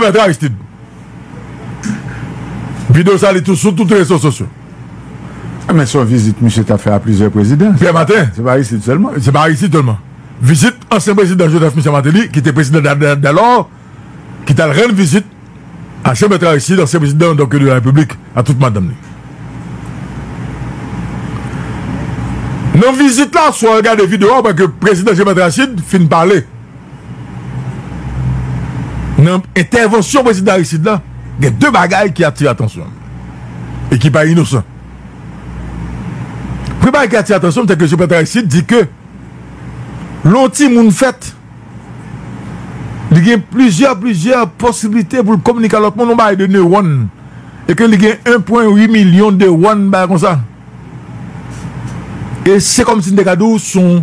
Mèt Aristid. Video sa li tou sou tout rezo sosyo. A men son vizit misye ta fè a plizyè prezidan. Pierre Martin. Se pa Aristid sèlman. Se pa Aristid sèlman. Vizit ansyen prezidan Joseph Michel Martelly ki te prezidan dalor ki tal rann vizit a Che Mèt Aristid ansyen prezidan donk de la Repiblik a tout madanm li. Nan vizit la swa al gade video a wè ke prezidan Che Mèt Aristid fin pale. Nan entèvansyon Prezidan Aristide la, gen 2 bagay ki atire atansyon m e ki pa inosan. Premye bagay ki atire atansyon m se ke Joseph Bertrand Aristide di ke lè yon timoun fèt, li gen plizyè, plizyè posiblite pou l kominike a lòt moun, yon bagay de newòn e ke li gen 1 pwen 8 milyon dewòn, yon bagay konsa. E se kòmsi m te ka di w se yon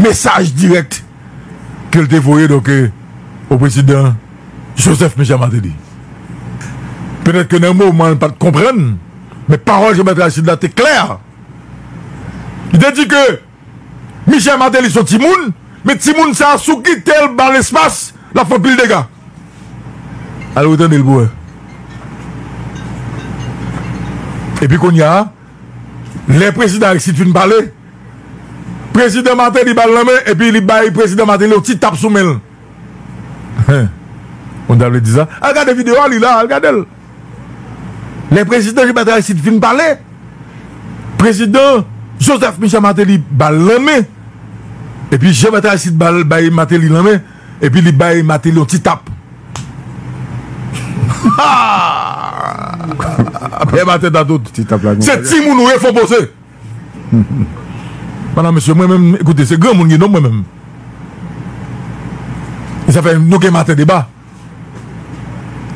mesaj dirèk ke l te voye donk o prezidan Joseph Michel Martelly. Petèt ke nan moman an l pa t konprann, men pawòl Jean-Bertrand Aristide la te klè. Li te di ke Michel Martelly s on timoun, men timoun sa a si w kite l ba l espas, l ap fè anpil dega. Ale w tande l pou w wè. Epi kounye a. Lè prezidan Aristide fin pale, prezidan Martelly ba l nan men epi li bay prezidan Martelly yon ti tap sou men l. Ou ta vle di sa? Al gade video a, li la, al gade l. Lè prezidan Jean-Bertrand Aristide fin pale, prezidan Joseph Michel Martelly ba l nan men epi Jean-Bertrand Aristide bay Martelly nan men. Epi li bay Mateli yon ti tap. Pè Mateli ta tout. Se ti moun ou ye fon poze. Madan mesye mwen menm ekoute se gran moun ki non mwen menm. E sa fè nou gen maten deba.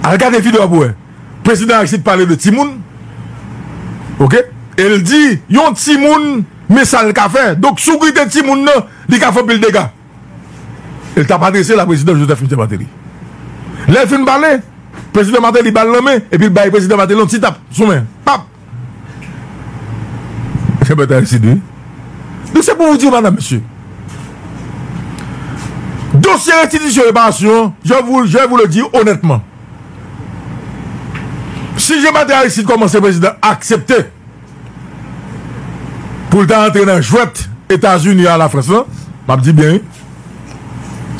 Al gade video a pou wè. Prezidan Aristide pale de ti moun. Ok. El di yon ti moun men sa l ka fè. Donk si w kite ti moun nan li ka fè anpil dega. Li tap adrese l a Prezidan Joseph Michel Martelly. Lè l fin pale, Prezidan Martelly ba l nan men epi l bay Prezidan Martelly yon ti tap sou men. Pap! Se bèt Aristide wi. Donk se pou w di w madanm mesye, dosye restitisyon reparasyon an, je vou, je vou le di onètman, si Jean Bertrand Aristide kòmanse Prezidan aksepte, pou l ta antre nan jwèt Etazini a Lafrans lan, m ap di byen wi,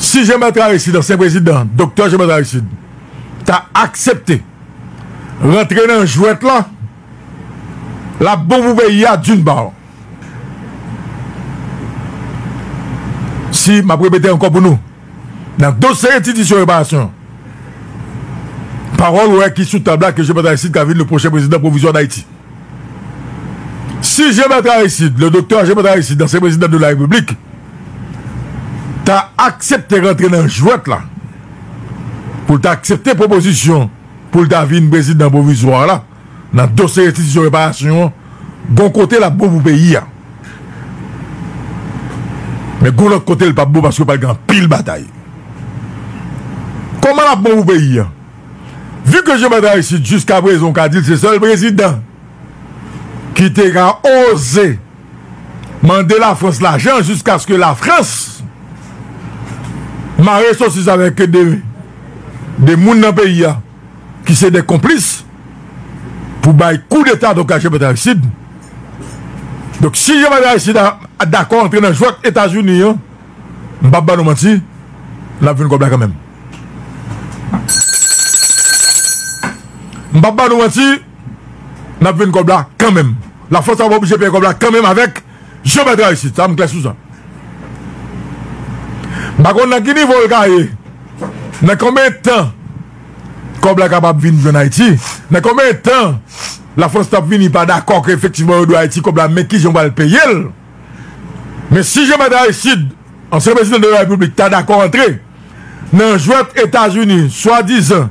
si Jean-Bertrand Aristide, ansyen prezidan, doktè Jean-Bertrand Aristide, ta aksepte rantre nan jwèt lan, l ap bon pou peyi a d'une part. Si, m ap repete ankò pou nou. Nan dosye restitisyon reparasyon, pawòl wè ki sou tab la ke Jean-Bertrand Aristide ka vin le pwochen prezidan pwovizwa Dayiti. Si Jean-Bertrand Aristide, le Doktè Jean-Bertrand Aristide, ansyen prezidan de la Repiblik, ta aksepte rantre nan jwèt la, pou l ta aksepte pwopozisyon pou l ta vin prezidan pwovizwa la, nan dosye restitisyon reparasyon an gon kote lap bon pou peyi a men gon lòt kote li pap bon paske pral gen anpil batay kòman lap bon pou peyi a vi ke Jean Bertrand Aristide jiska prezan ou ka dil se sèl prezidan ki te ka oze mande la frans lajan jiska ske la frans mare sosis avèk de de moun nan peyi a. ki se de konplis pou bay kou deta donk Jean Bertrand Aristide donk si Jean Bertrand Aristide a dakò antre nan jwèt etazini an m pap ba nou manti lap jwenn kòb la kanmenm m pap ba nou manti lap jwenn kòb la kanmenm lafrans ap oblije peye kòb la kanmenm avèk. Jan bagay la ye isit la m klè sou sa. M pa konn nan ki nivo l ka ye, nan konbyen tan kòb la kapab vin jwenn Ayiti, nan konbyen tan Lafrans t ap vini pa dakò ke efektivman yo dwe Ayiti kòb la men kijan yo pral peye l. Men si Jan Mèt Aristid, ansyen prezidan de la Repiblik ta dakò antre nan jwèt Etazini swadizan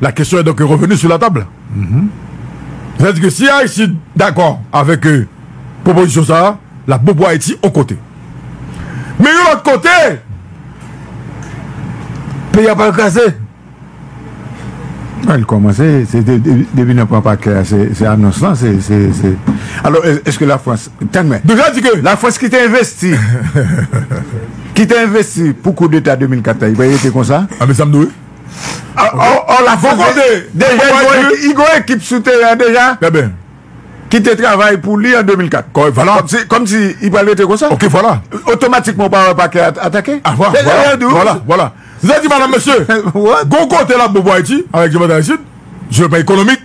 La question est donc revenue sur la table. Sètadi ke si Aristide dakò avèk pwopozisyon sa a, l ap bon pou Ayiti yon kote. Men yon lòt kote, peyi a pral kraze. Li kòmanse, se depi nan pran pakè a, se anons lan, se. Alò, èske Lafrans, tann mwen. Donk sa vle di ke Lafrans ki te envesti, ki te envesti pou koudeta 2004 la, li pral rete konsa? Anbe sa m di w. Or la Fonse deja li gon ekip sou teren an deja ki te travay pou li an 2004. Kòmsi li pral rete konsa? Otomatikman ou pa wè Pakè atake? Vwala. Msye di madanm mesye gon kote lap bon pou Ayiti avèk Jean Bertrand Aristide sou le plan ekonomik.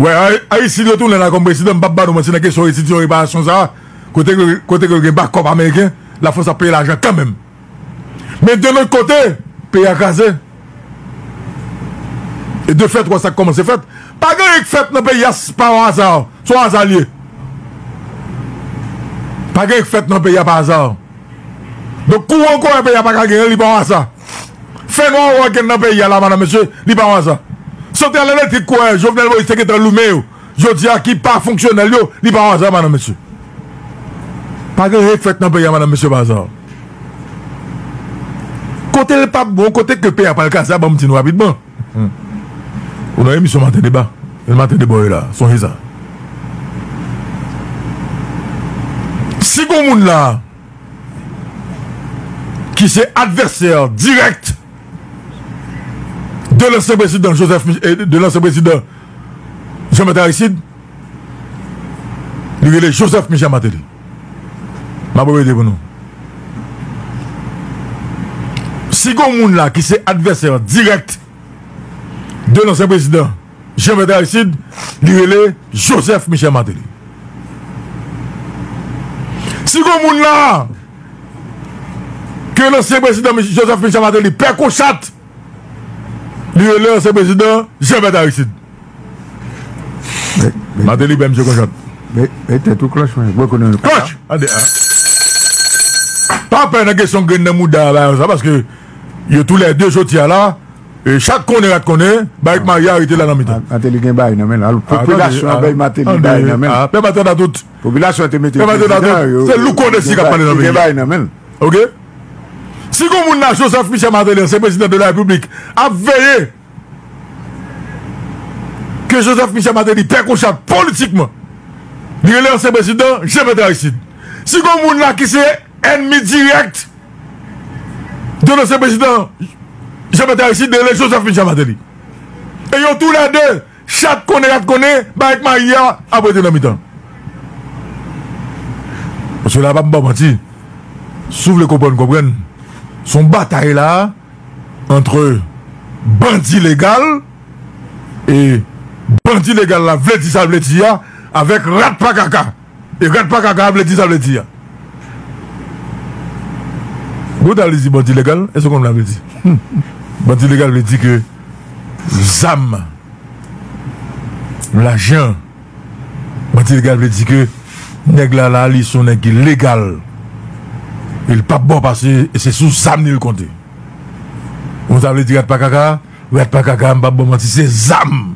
Wè Aristide retounen la kòm prezidan m pap ba nou manti nan kesyon restitisyon reparasyon sa a kote ke l gen bakòp ameriken lafrans ap peye lajan kanmenm. Men de lòt kote, peyi a kraze. E de fèt wè sa k kòmanse fèt. Pa gen anyen k fèt nan peyi a pa o aza. Se o aza l ye. Pa gen anyen k fèt nan peyi a pa aza. Donk kouran kouran peyi a pa ka genyen li pa o aza. Fè nwa ou wè k gen nan peyi a la madam mesye li pa o aza. Santral elektrik kouran Jovenel Moïse te gentan limen yo. Jodi a ki pa fonksyonèl yo li pa waza madam mesye pa gen ryen ki fèt nan peyi a madam mesye pa aza kote l pap bon kote ke peyi a pral kaze a banm di nou rapidman ou nan emisyon maten deba e maten deba w ye la sonje sa si gon moun la ki se advèsè dirèk de lansyen prezidan joseph de lansyen prezidan Jean Martel Aristide li rele Joseph Michel Martelly map repete pou nou si gon moun la ki se advèsè dirèk de lansyen prezidan Jean Martel Aristide li rele Joseph Michel Martelly si gon moun la ke lansyen prezidan Joseph Michel Martelly pè kochat Li rele ansyen prezidan Jean Berthe Aristide. Martelly bay misye konchant. Bay tèt ou klòch mwen. Mwen konnen. Klòch! Ande a. Pa pè nan kesyon grenn nan mouda la sa paske yo tou lè de joti a la e chat konnen rat konnen bay Maria arete la nan mitan. Martelly gen bay nan men la. Popilasyon an bay Martelly bay nan men. A pè maten da tout. Popilasyon te mete. Pè maten da tout. Se lou konnen si kap pale nan men. Gen bay nan men. Ok. Si gon moun la Joseph Michel Martelly ansyen prezidan de la repiblik ap veye ke Joseph Michel Martelly pè konchal politikman li rele ansyen prezidan Jean Bertrand Aristide si gon moun la ki se ènmi dirèk de lansyen prezidan Jean Bertrand Aristide li rele Joseph Michel Martelly e yo tou lè 2 Chat konnen rat konnen bagay k mari a ap rete nan mitan. Mesye la pap baw manti si w vle konprann konprann se yon batay la antre bandi legal e bandi legal la vle di sa l vle di a avèk rat pa kaka. E rat pa kaka vle di sa vle di a. Bon ta vle di bandi legal eske w konn sa vle di? Bandi legal vle di ke zam lajan bandi legal vle di ke nèg la la li son nèg ki legal e li pap ba w pase e se sou zam li l konte. Konn sa vle di rat pa kaka a? Rat pa kaka a m pap baw manti se zam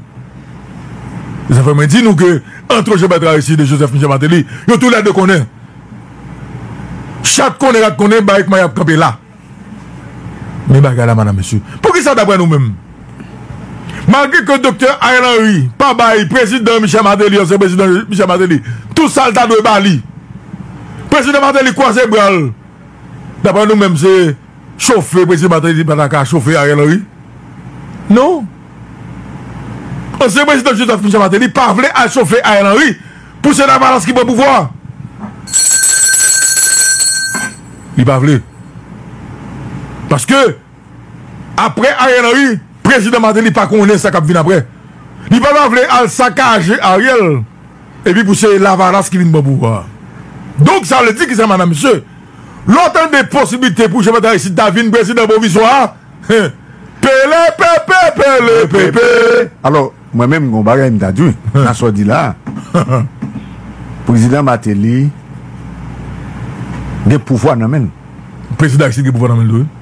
e sa fè mwen di nou ke antre Jean Bertrand Aristide e Joseph Michel Martelly yo tou lè 2 konnen chat konnen rat konnen bagay kman yap kanpe la men bagay la madam mesye poukisa daprè nou menm malgre ke doktè Ariel Henry pa bay prezidan Michel Martelly ansyen prezidan Michel Martelly tou sal ta dwe bali prezidan Martelly kwaze bral daprè nou menm se. Chofe prezidan Martelly pa ta ka chofe Ariel Henry non. Ansyen prezidan Joseph Michel Martelly pa vle al chofe Ariel Henry pou se Lavalas ki pran pouvwa a. Li pa vle. Paske apre Ariel Henry, prezidan Martelly pa konnen sa k ap vin apre. Li pa ta vle al sakaje Ariel epi pou se Lavalas ki vin pran pouvwa a. Donk sa vle di ki sa madam mesye? Lè w tande posiblite pou Jean-Bertrand Aristide ta vin prezidan pwovizwa, pelepepe, pelepepe! Alò, mwen menm gen yon bagay m ta di nan sa w di la a. Prezidan Martelly gen pouvwa nan men l. Prezidan Aristide gen pouvwa nan men l tou wi.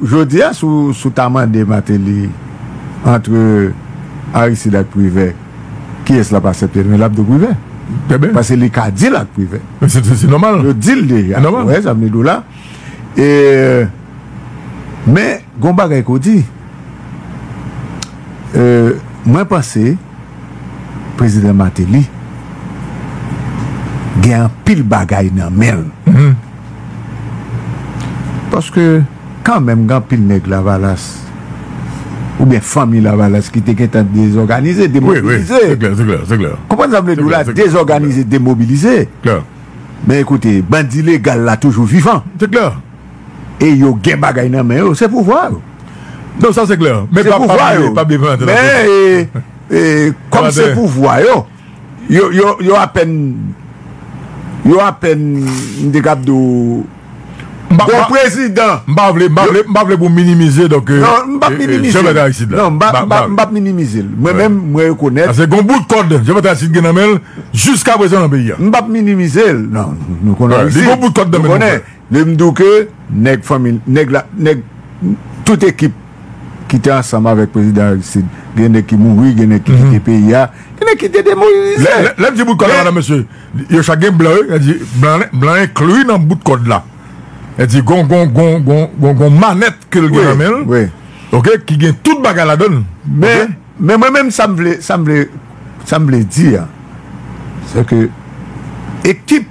Jodia si w ta mande Martelly antre Aristide ak Privert kiyes lap asepte men lap di w Privert paske li ka deal ak Privert yo di l deja ou wè sa m vle di w la men gon bagay ke w di mwen panse Prezidan Martelly gen anpil bagay nan men l. Paske kanmenm gen anpil nèg lavalas oubyen fanmi lavalas ki te gentan dezòganize, demobilize. Konprann sa m vle di w la? Dezòganize, demobilize. Men koute, bandi legal la toujou vivan. E yo gen bagay nan men yo, se pouvwa yo. Non sa se klè. Se pouvwa yo. Men e, kòm se pouvwa yo. Yo apèn Yo apèn M te kab di w Bon prezidan M pa vle M pa vle pou w minimize donk M pap minimize l M pap minimize l Mwen menm mwen rekonèt Paske gon bout kòd Jan Pèt Aristide gen nan men l jiskaprezan nan peyi a M pap minimize l Li gon bout kòd nan men l Lè m di w ke nèg fanmi l, nèg la, nèg tout ekip ki te ansanm avèk prezidan Aristide, gen nèg ki mouri, gen nèg ki kite peyi a, gen nèg ki te demobilize. Lè m di bout kòd la, madan mesye, yo chak gen blan yo, lè m di blan, blan enkli nan bout kòd la. Lè m di gon, gon, gon, gon, gon, gon manèt ke l gen nan men l, ok, ki gen tout bagay ladan l. Men, men mwen menm sa m vle, sa m vle, sa m vle di a, se ke ekip.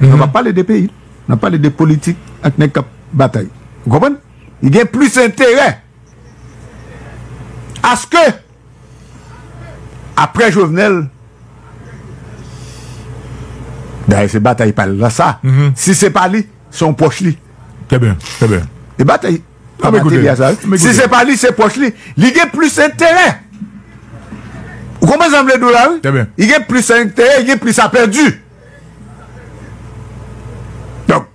Nap pale de peyi, nap pale de politik ak nèg kap batay. Ou konprann? Li gen plis enterè aske aprè Jovenel dayè se batay pal la sa, si se pa li se yon pwòch li. Trè byen, trè byen. E batay. Pa mete li a sa. Si se pa li, se pwòch li. Li gen plis enterè. Ou konprann sa m vle di w la wi? Li gen plis enterè, li gen plis a pèdi. Donk,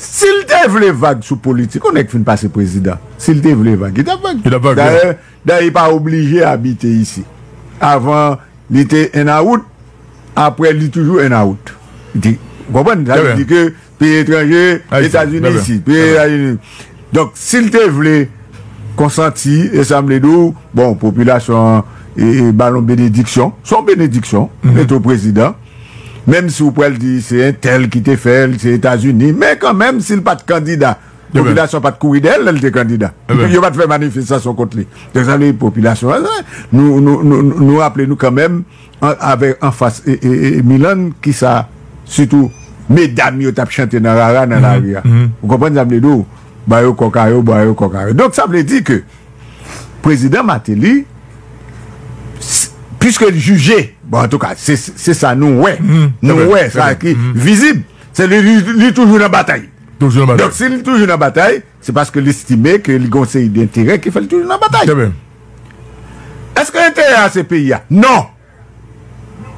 si l te vle vag sou politik, yon nèg fin pase prezidan, si l te vle vag, li t ap vag. Li t ap vag. Dayè, dayè li pa oblije abite isi. Avan li te 1 awout. Apre li toujou en out. Di konprann sa vle di ke peyi etranje etazini isit peyi etazini donk sil te vle konsanti e sam vle diw bon popilasyon an e balon benediksyon son benediksyon mete w prezidan menm si w pral di se entèl ki te fèl se etazini men kan menm sil pat kandida popilasyon pat kouri dèyè l lèl te kandida yo pat fè manifestasyon kont li donk sa vle di popilasyon nou nou nou raple nou kan menm. Avè anfas Milan ki sa sitou medam yo tap chante nan rara nan lari a. Ou konprann sa m vle di w? Ba yo kòk a yo, ba yo kòk a yo. Donk sa vle di ke Prezidan Mateli, piske l jije, bon antouka se sa nou wè, nou wè sa ki vizib, se li toujou nan batay. Donk si li toujou nan batay. Se paske l estime ke li gen yon seri denterè ki fè l toujou nan batay. Trè byen. Èske enterè a se peyi a? Non!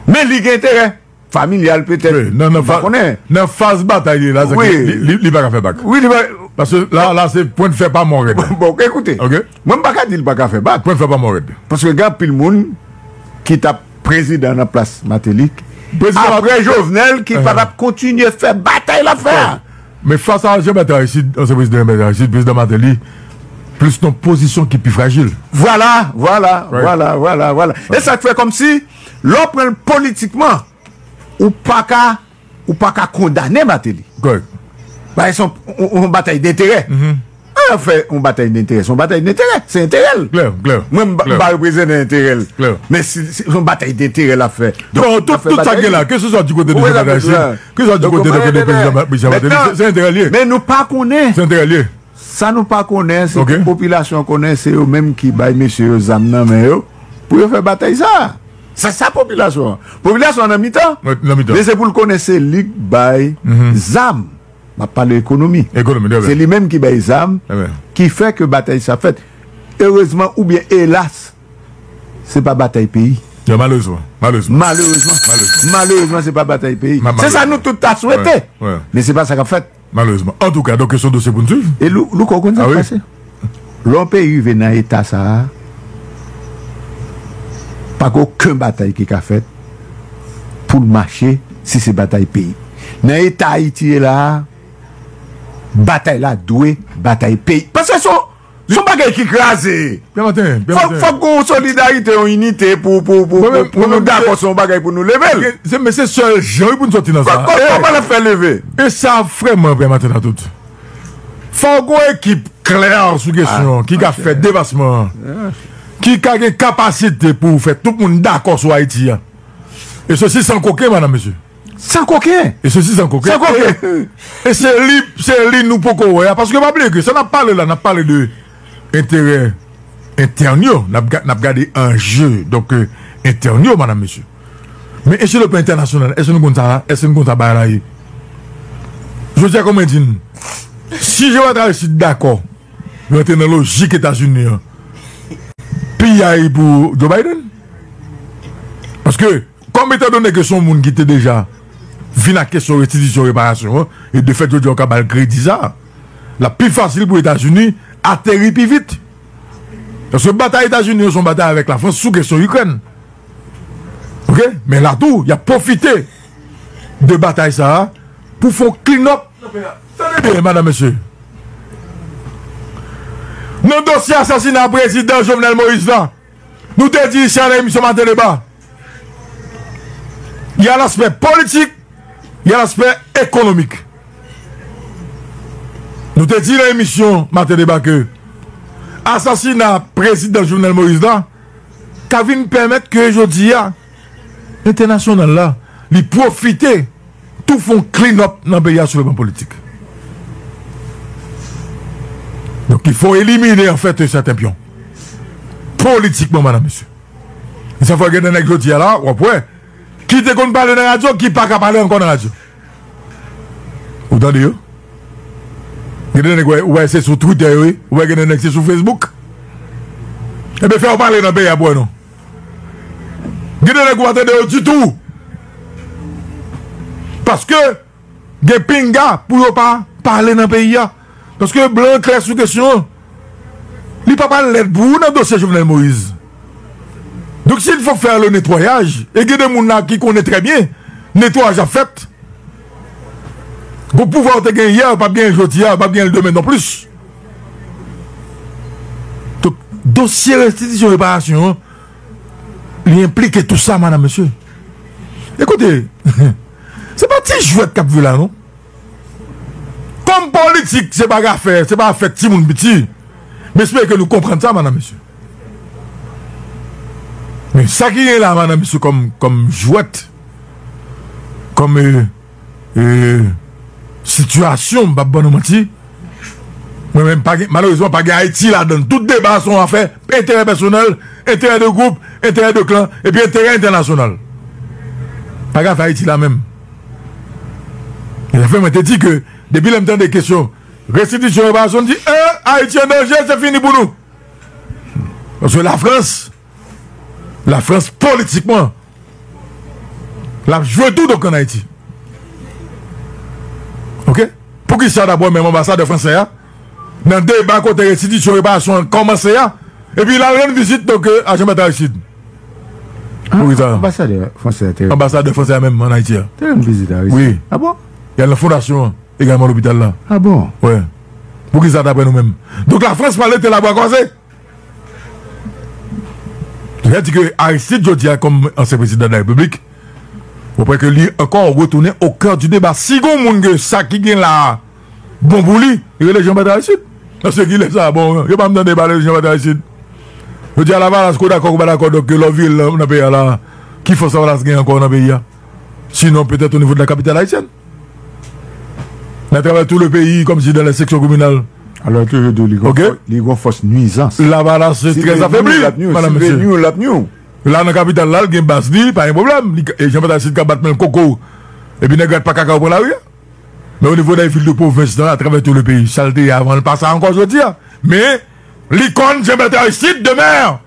Men li gen enterè. Familyal petèt. Wi. Nan, nan faz, nan faz batay li la, sa vle di li, li pa ka fè bak. Wi, li pa ka. Paske la, la se pwen de fè pa mò rèd. Bon, ekoute. Ok. Mwen m pa ka di li pa ka fè bak. Pwen de fè pa mò rèd. Paske gen anpil moun ki t ap prezidan nan plas Mateli, apre Jovenel, ki pa t ap kontinye fè batay l ap fè a. Men fas a Jean Bertrand Aristide, ansyen prezidan Jean Bertrand Aristide, prezidan Martelly plis nan pozisyon ki pi frajil. Vwala, vwala, vwala, vwala, vwala. E sa k fè kòmsi lè w pran l politikman, ou pa ka, ou pa ka kondane Martelly. Kòrèk. Bagay sa, yon batay denterè. An ap fè yon batay denterè. Se yon batay denterè. Se enterè l. Klè, klè. Mwen m pa reprezenen enterè l. Klè. Men si se yon batay denterè l ap fè. Non, tout sa k gen la, ke se swa di kote de Jovènèl Moyiz, ke se swa di kote de kote Prezidan Michèl Mateli, se enterè l ye. Men nou pa konnen. Se enterè l ye. Sa nou pa konnen, se ke popilasyon konnen se yo menm ki bay mesye yo zam nan men yo pou yo fè batay sa a. Se sa popilasyon. Popilasyon an nan mitan. Nan mitan. Men se pou l konnen se li k bay zam. M ap pale ekonomi. Ekonomi, trè byen. Se li menm ki bay zam, ki fè ke batay sa fèt. Erezman oubyen elas, se pa batay peyi. Ya malerezman. Malerezman. Malerezman. Malerezman. Malerezman se pa batay peyi. Malerezman. Se sa nou tout ta swete. Wè. Men se pa sa k ap fèt. Malerezman. Antouka, donk se yon dosye pou n swiv. E Louko ou konn sa k pase? Lè yon peyi rive nan eta sa a, pa gen oken batay ki ka fèt pou l mache si se batay peyi. Nan eta Ayiti ye la a, batay la dwe batay peyi. Paske se yon bagay ki kraze. Fòk gen yon solidarite, yon inite pou nou dakò se yon bagay pou nou leve l. Men se sèl jan wi pou nou sòti nan sa a. Kòman n ap fè leve? E sa vrèman vrèman tèt a tout. Fòk gon ekip klè sou kesyon an ki ka fè devasman an, ki ka gen kapasite pou fè tout moun dakò sou Ayiti an. E sesi san koken, madan mesye. San koken! E sesi san koken. San koken! E se li, se li nou poko wè a. Paske pa bliye ke sa n ap pale la, n ap pale de enterè entèn yo. N ap gade anje donk entèn yo, madan mesye. Men e sou le plan entènasyonal, èske nou konn sa, èske nou konn sa bagay la ye? Jodi a kon mwen di n, si Jewova Travayist dakò rantre nan lojik Etazini an, piyay pou Joe Biden. Paske, kòm etan done ke se yon moun ki te deja vin ak kesyon restitisyon, reparasyon an, e de fèt jodi a ou ka ba l kredi sa, l ap pi fasil pou Etazini ateri pi vit. Paske batay Etazini yo se yon batay avèk Lafrans sou kesyon Ikrèn. Ok men la tou yap profite de batay sa a pou fon clean up tande byen madam mesye nan dosye asasina prezidan Jovenel Moïse la nou te di isi a nan emisyon maten deba ya laspè politik ya laspè ekonomik nou te di nan emisyon maten deba ke asasina prezidan Jovenel Moïse la. ka vin pèmèt ke jodi a entènasyonal la li pwofite tou fè yon clean up nan peyi a sou le plan politik. Donk li fè w elimine an fèt yon sèten pyon politikman madan mesye. Se sa fè gen de nèg jodi a la w ap wè ki te konn pale nan radyo ki pa ka pale ankò nan radyo. Ou tande yo? Gen de nèg wè, ou wè se sou Twitter yo ye, ou wè gen de nèg se sou Facebook. Ebe fè yo pale nan peyi a pou wè non. Gen de nèg ou pa tande yo ditou. Paske gen pinga pou yo pa pale nan peyi a. Paske blan an klè sou kesyon an. Li pa pral lèd pou ou nan dosye Jovenel Moïse. Donk si l fòk fè le netwayaj, e gen de moun la ki konnen trè byen netwayaj ap fèt. Donk pouvwa ou te gen yè ou pap genyen jodi a, ou pap genyen l demen nonplis. Donk dosye restitisyon reparasyon an, li enplike tou sa madam mesye. E koute, se pa ti jwèt k ap jwe la non. Kòm politik se pa afè, se pa afè timoun piti, m espere ke nou konprann sa madam mesye. Men sa ki gen la madam mesye kòm kòm jwèt, kòm e e sitiyasyon m pap ban nou manti, mwen menm pa gen malerezman pa gen Ayiti ladan l. Tout deba se yon afè enterè pèsonèl, enterè de gwoup, enterè de klan epi enterè entènasyonal. Pa gen afè Ayiti la menm. E la fè mwen te di ke depi lè m tande kesyon restitisyon reparasyon m di e Ayiti an danje se fini pou nou. Paske la Frans la Frans politikman l ap jwe tou donk an Ayiti. Ok poukisa dabò menm anbasadè fransè a nan deba kote restitisyon reparasyon an kòmanse a epi lal rann vizit donk a Jean Bertrand Aristide pou ki sa anbasadè fransè a te anbasadè fransè a menm an Ayiti a te rann vizit a Aristide wi a bon y al nan fondasyon an egalman lopital la a bon wè pou ki sa daprè nou menm donk la Frans pale te la bwa kwaze. Li a di ke Aristide jodi a kòm ansyen prezidan de la Repiblik, ou pè ke li ankò retounen o kè di deba. Si gon moun ke sa ki gen la a bon pou li, rele Jean-Bertrand Aristide. Paske ki lè sa a, bon, yo pa menm tande pale de Jean-Bertrand Aristide. Jodi a Lavalas ke w dakò ke w pa dakò donk ke lè w vire nan peyi a la a, ki fòs Lavalas gen ankò nan peyi a? Sinon petèt o nivo de la kapitale ayisyèn. Nan travay tou le peyi kòm si nan lè seksyon kominal. Alò ke yo di li gòf li gòf fòs nwizans. Lavalas se trè zafèbli. Mèdam mesye. Se nwiw lap nwiw. La nan kapital la l gen baz li pa gen pwoblèm. E jan pataj si ka bat menl koko. E pi nèg rat pa kaka ou pran lari a. Men onivo dèy vil de pwovens nan a travè tou le peyi. Sal te ye avan l pa sa ankò jodi a. Men li konn jan pataj si demen.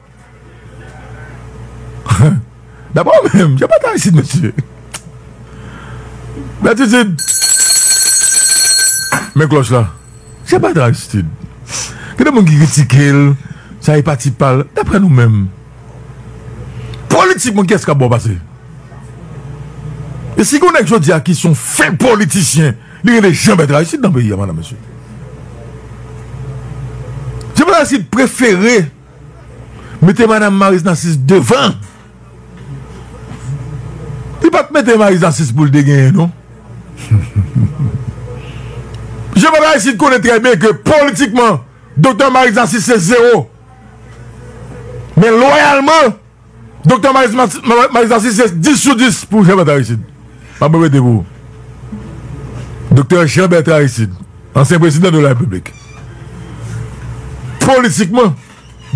Dapre ou menm, jan pata isit mesye. Gratitid. Men kloch la. Jan pata Aristid. Gen de moun ki kritike l, sa e pati pa l. Dapre nou menm, politikman kiyès k ap bò pase? E si gen yon nèg jodi a ki son fen politisyen, li rele Jan Bèt Aristid nan peyi a madan mesye. Jan Bèt Aristid prefere. Mete madam Maryse Narcisse devan Li pat mete Maryse Narcisse poul te genyen non Jean Paul Aristide konnen trè byen ke politikman Doktè Maryse Narcisse se zero Men loyalman Doktè Malis Malis Narcisse se 10 sou 10 pou Jean Bertrand Aristide. Map repete pou ou. Doktè Jean Bertrand Aristide, ansyen prezidan de la Repiblik. Politikman,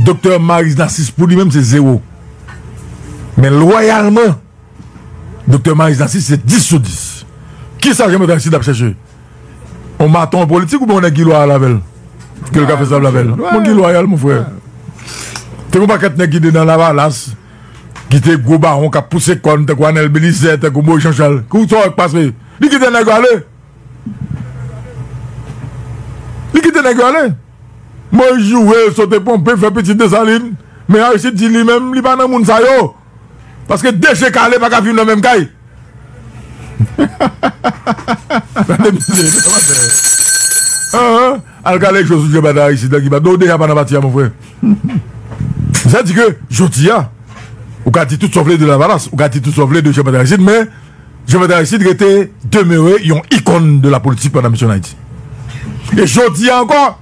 Doktè Malis Narcisse pou li menm se 0. Men lwayalman, Doktè Malis Narcisse se 10 sou 10. Kisa Jean Bertrand Aristide ap chèche On maton an politik oubyen on nèg ki lwayal avèl? Ke l ka fè sa vle avèl? On nèg ki lwayal mon frè. Te gon pakèt nèg ki te nan lavalas, ki te gwo bawon k ap pouse kòn tankou Anèl Belizè, tankou Moyiz Janchal. Kou sa yo k pase? Li kite nèg yo ale. Li kite nèg yo ale. Moyiz joure, sote ponpe, fè pitit Desalin. Men Aristide di li menm li pa nan moun sa yo. Paske de je kale pa ka viv nan menm kay. Al kale ak Josué Bada a isit la ki Bada ou deja pa nan pati a mon frè. Sa di ke jodi a ou ka di tout sa w vle de Lavalas, ou ka di tout sa w vle de Jean Bertrand Aristide men Jean Bertrand Aristide rete, demeure yon ikon de la politik pandan misyon an Ayiti. E jodi a ankò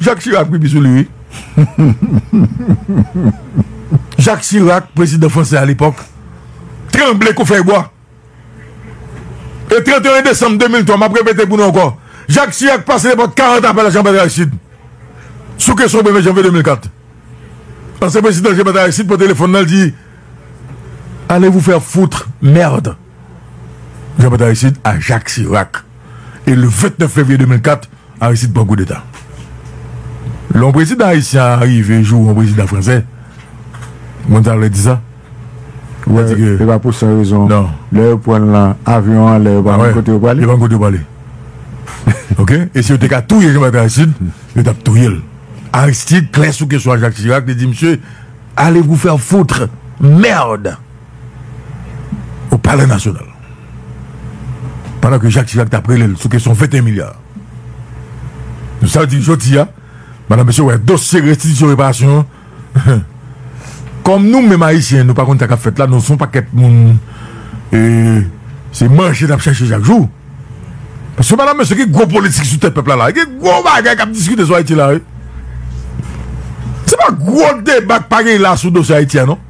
Jacques Chirac pipi sou li wi. Jacques Chirac prezidan fransè alepòk tranble kou fèy bwa. E 31 desanm 2003 map repete pou nou ankò Jacques Chirac pase nepòt 40 apèl a Jean-Bertrand Aristide sou kesyon premye janvye 2004. Ansyen prezidan Jean-Bertrand Aristide pran telefòn nan li di Allez vous faire foutre, merde. Jean Bertrand Aristide a Jacques Chirac e le 29 fevriye 2004 Aristide pran koudeta. Lè yon prezidan ayisyen a rive joure yon prezidan franse, moun sa vle di sa? Ou pa di ke. Se pa pou san rezon. Non. Lè yo pran l lan avyon an lè yo pa konn kote yo prale. Yo pa konn kote yo prale. Ok? E si yo te ka touye Jean Bertrand Aristide, yo tap touye l. Aristide klè sou kesyon a Jacques Chirac, li di misye, allez vous faire foutre! Merde! o palè nasyonal pandan ke Jak Chirak tap rele l sou kesyon 21 milya nou sa di jodi a madan mesye wè dosye restitisyon reparasyon an kòm nou menm ayisyen nou pa konn sa kap fèt la nou son pakèt moun ee se manje nap chache chak jou paske madan mesye gen gwo politik sou tèt pèp la la gen gwo bagay kap diskite sou ayiti la wi se pa gwo deba k pa gen la sou dosye ayiti a non.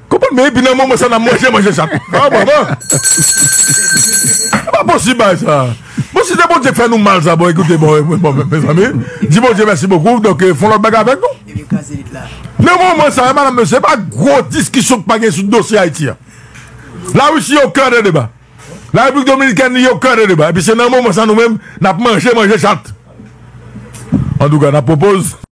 Konprann men epi nan moman sa nan manje manje sa tou ah bon bon epa posib bagay sa bon si se Bondye ki fè nou mal sa bon ekoute bon mezanmi di Bondye mèsi bokou donk fon lòt bagay avèk nou nan moman sa madam mesye epa gwo diskisyon ki pa gen sou dosye Ayiti an la Russie yo kè de deba la République Dominicaine li yo kè de deba epi se nan moman sa nou menm nap manje manje chat andouka nap pwopoz.